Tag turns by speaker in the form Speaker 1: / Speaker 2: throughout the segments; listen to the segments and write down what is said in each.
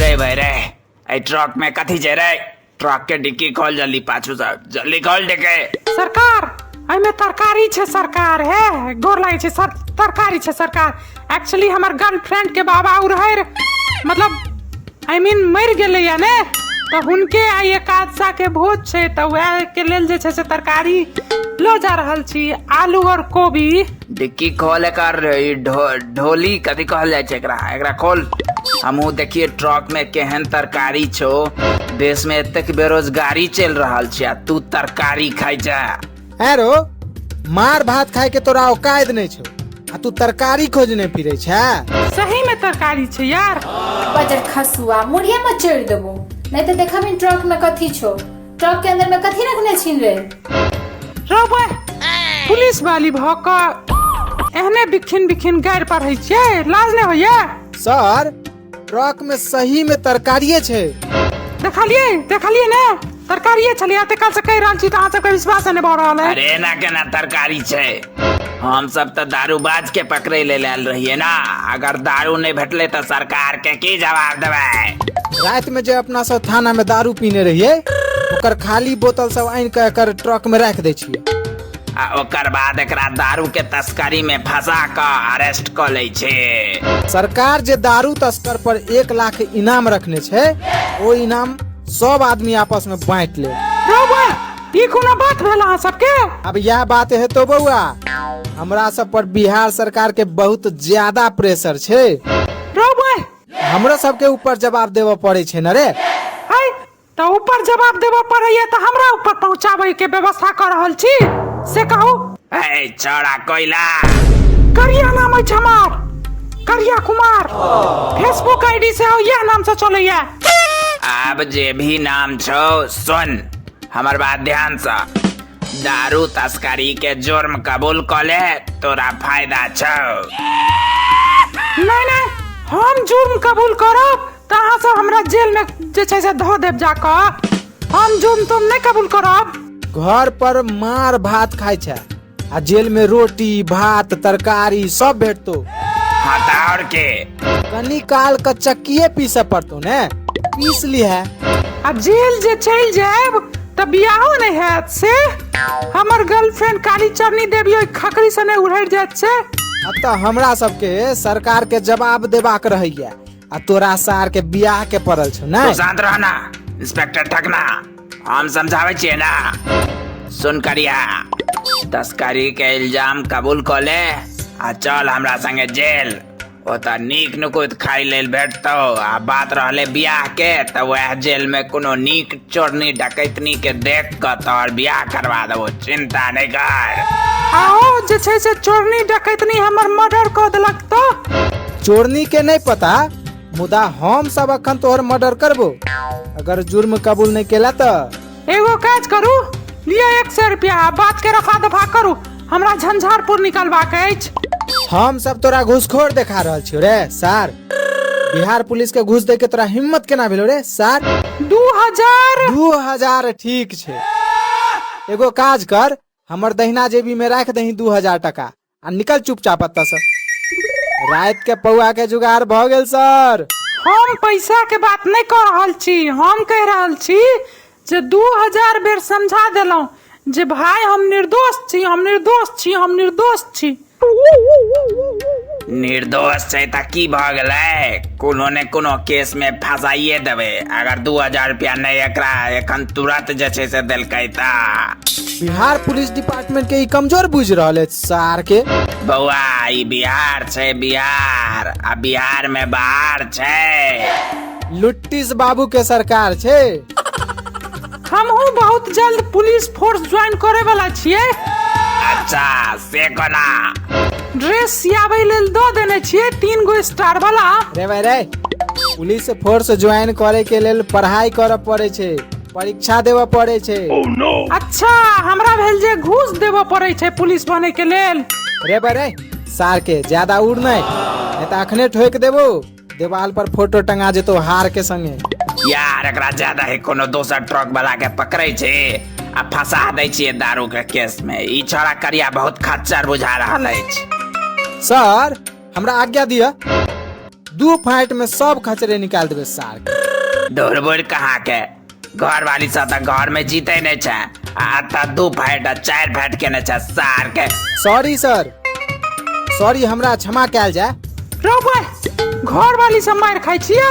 Speaker 1: रे भाई रे ए ट्रक में कथी छै रे ट्रक के डिक्की खोल जल्दी पाछू से जल्दी खोल डिक्की सरकार एहिमे तरकारी छै सरकार हे गोर लागै छै सर तरकारी छै सरकार एक्चुअली हमर गर्लफ्रेंड के बाबा उ रहै रे मतलब आई मीन मरि गेलैया ने तऽ हुनके आइ एकादशा के भोज छै तऽ वएह के लेल जे छै से तरकारी लो जा रहल छी आलू और कोबी डिक्की खोल एकर ई ढो, ढोली कथी कहल जाइ छै एकरा एकरा खोल हमहू देखिए ट्रक में केहन तरकारी छो देश में एतेक बेरोजगारी चल रहल छै आ तू तरकारी खाइ जा हैं रो मार भात खाए के तोरा औकायद नहीं छो आ तू तरकारी खोजने फिरे छे सही में तरकारी छै यार बजर खसुआ मुड़िया में चढ़ देबो नहीं तो देखब इन ट्रक में कथी छो ट्रक के अंदर में कथी रखने छीन रे रबै पुलिस वाली भऽ कऽ एहने बिखिन बिखिन गारि पढ़ै छियै लाज नहि होइए सर ट्रक में सही में तरकारिये छै देखलियै देखलियै ने तरकारिये छलियै तऽ काल्हिसँ कहि रहल छी तऽ अहाँ सबके विश्वास नहि भऽ रहल है अरे एना केना तरकारी छै हम सब तऽ दारूबाज के पकड़े लेल आयल रहिए ना अगर दारू नहि भेटले तऽ सरकार के की जवाब देबै राति में जे अपना सब थाना में दारू पीने रहिए ओकर खाली बोतल सब आनि के एकर ट्रक में राख दे छिए आ ओकर बाद एकरा दारू के तस्करी में फंसा क अरेस्ट क ले छे सरकार जे दारू तस्कर पर एक लाख इनाम रखने छै ओ इनाम सब आदमी आपस में बांट ले ई कोनो बात भेल अहाँ सबके अब यह बात है तो बउआ हमरा सब पर बिहार सरकार के बहुत ज्यादा प्रेशर छे रो बे हमरो सब के ऊपर जवाब देवे पड़े छे न रे है तो ऊपर जवाब देबो पड़ैया तो हमरा ऊपर पहुंचाबै के व्यवस्था कर रहल छी से कहू ए छोड़ा कोयला करिया नाम अछि हमार करिया कुमार फेसबुक आईडी से हो यह नाम से चलैया आब जे भी नाम छौ सुन हमर बात ध्यान से दारू तस्करी के जुर्म कबूल कर ले तोरा फायदा छौ नहीं नहीं हम जुर्म कबूल करब तऽ अहाँ सब हमरा जेल में जे छै से धो देब जाकऽ हम जुर्म तुम नहीं कबूल करब घर पर मार भात खाय छै आ जेल में रोटी भात तरकारी सब भेटतो हाँ तो और के कनी काल का चक्किए पीसे पड़तो ने पीस ली है आ जेल जे चल जाएब त बियाहो नहीं हैत से हमर गर्लफ्रेंड काली चरनी देवी ओहि खकरी सने उड़ैर जात से अब तो हमरा सबके सरकार के जवाब देबाक रहैया आ तोरा सार के बियाह के पड़ल छौ ना तू शांत रह ना इंस्पेक्टर ठकना हम समझावे छिए ना सुन करिया तस्करी के इल्जाम कबूल क ले आ चल हमरा संगे जेल ओतऽ नीक नुकुत खाई लेल भेटतौ आ बात रहले बियाह के तऽ वएह जेल में कोनो नीक चोरनी डकैतनी के देख कऽ तोहर बियाह करवा देबो चिंता नहि कर आओ जे छै से चोरनी डकैतनी हमर मर्डर कऽ देलक चोरनी के नहीं पता मुदा हम सब अखन तोहर मर्डर करबो अगर जुर्म कबूल नहीं केला तो एगो काज करू लिया एक सौ रुपया आ बात के रफा दफा करू हमरा झंझारपुर निकलबाक अछि हम सब तोरा घूसखोर देखा रहल छियो रे सार बिहार पुलिस के घूस दे के तोरा हिम्मत केना भेलो रे सार दू हजार दू हजार ठीक छै एगो काज कर हमर दहिना जेबी में राख दही दू हजार टका आ निकल चुपचाप एतऽ से रात के पौआ के जुगाड़ भऽ गेल सर हम पैसा के बात नहीं कह रहल छी हम कह रहल छी जे दू हजार बेर समझा देलहुं जे भाई हम निर्दोष छी हम निर्दोष छी हम निर्दोष छी निर्दोष छै तऽ की भऽ गेलै कोनो ने कोनो केस मे फंसाइए देबै अगर दू हजार रुपया नहि एकरा एखन तुरंत जे छै से देलकै तऽ बिहार पुलिस डिपार्टमेंट के ई कमजोर बुझ रहल है सार के बौआ ई बिहार छै बिहार आ बिहार में बाहर छै लुट्टिस बाबू के सरकार छै हमहू बहुत जल्द पुलिस फोर्स ज्वाइन करे वाला छियै अच्छा से कोना ड्रेस सियाबै लेल दऽ देने छियै तीन गो स्टार वाला रे भाई रे पुलिस फोर्स ज्वाइन करे के लेल पढ़ाई करऽ पड़े छै परीक्षा देबऽ पड़ै छै अच्छा हमरा भेल जे घूस देबऽ पड़ै छै पुलिस बने के लेल रे बरे सार के ज्यादा उड़ नहि नहि तऽ अखने ठोकि देबो देवाल पर फोटो टंगा जेतो हार के संगे यार एकरा ज्यादा ही कोनो दोसर ट्रक वाला के पकड़े छै आ फंसा दै छियै दारू के केस में ई छोरा करिया बहुत खच्चर बुझा रहल अछि सर हमरा आज्ञा दिया दू फाइट में सब खचरे निकाल देबे सार डोरबोर कहाँ के घर वाली सब तो घर में जीते नहीं छे आ तो दू फाइट आ चार फाइट के नहीं छे सार के सॉरी सर सॉरी हमरा क्षमा कयल जाय रो भाई घर वाली सब मार खाई छियो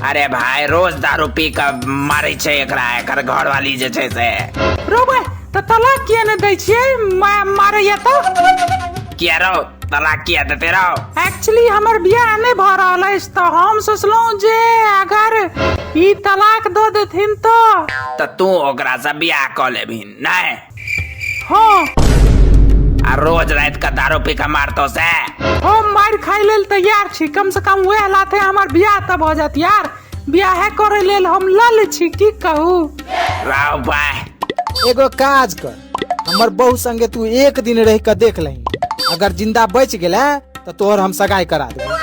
Speaker 1: अरे भाई रोज दारू पी के मारे छे एकरा एकर घर वाली जे छे से रो भाई तो तलाक किया न दै छियै मा- मारैया तो किया रो तलाक किया देते रहो एक्चुअली हमर बियाह नहि भऽ रहल अछि तऽ हम सोचलहुँ जे अगर ई तलाक दऽ देथिन तऽ तऽ तू ओकरा से बियाह कऽ लेबही नहि हँ आ रोज रात के दारू पी के मारतो से हम मारि खाय लेल तैयार छी कम से कम वएह लाथे हमर बियाह तऽ भऽ जायत यार बियाहे करे लेल हम लल छी की कहू राव भाई एगो काज कर हमर बहू संगे तू एक दिन रह के देख लही अगर जिंदा बच गेले तो तोहर हम सगाई करा देबे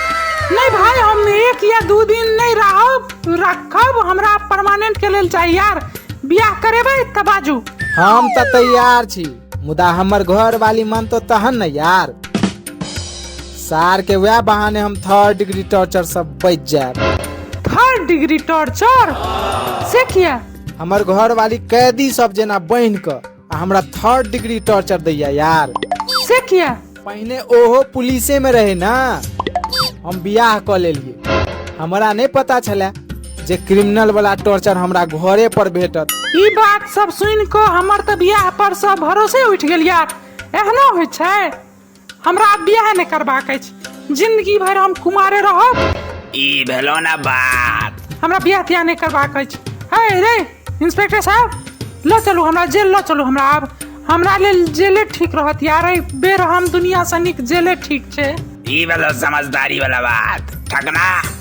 Speaker 1: नहीं भाई हम एक या दू दिन नहीं रहब रखब हमरा परमानेंट के लेल चाहिए यार बियाह करेबै तब बाजू हम तो तैयार छी मुदा हमर घर वाली मन तो तहन न यार सार के वह बहाने हम थर्ड डिग्री टॉर्चर सब बच जाए थर्ड डिग्री टॉर्चर से किया हमर घरवाली कैदी सब जेना बहिन क आ हमरा थर्ड डिग्री टॉर्चर दैया यार से किया पहिने ओहो पुलिसे में रहे ना हम बियाह क लेलिए हमरा नहीं पता छले जे क्रिमिनल वाला टॉर्चर हमरा घरे पर भेटत ई बात सब सुन को हमर त बियाह पर सब भरोसे उठ गेल यार एहनो होइ छै हमरा आब बियाह नहि करबाक अछि जिंदगी भरि हम कुमारे रहब ई भेलो ना बात हमरा बियाह तियाह नहि करबाक अछि हे रे इंस्पेक्टर साहब लऽ चलू हमरा जेल लऽ चलू हमरा आब हमरा लेल जेले ठीक रहत यार एहि बेर हम दुनिया से नीक जेले ठीक छै ई भेलो समझदारी वाला बात ठकना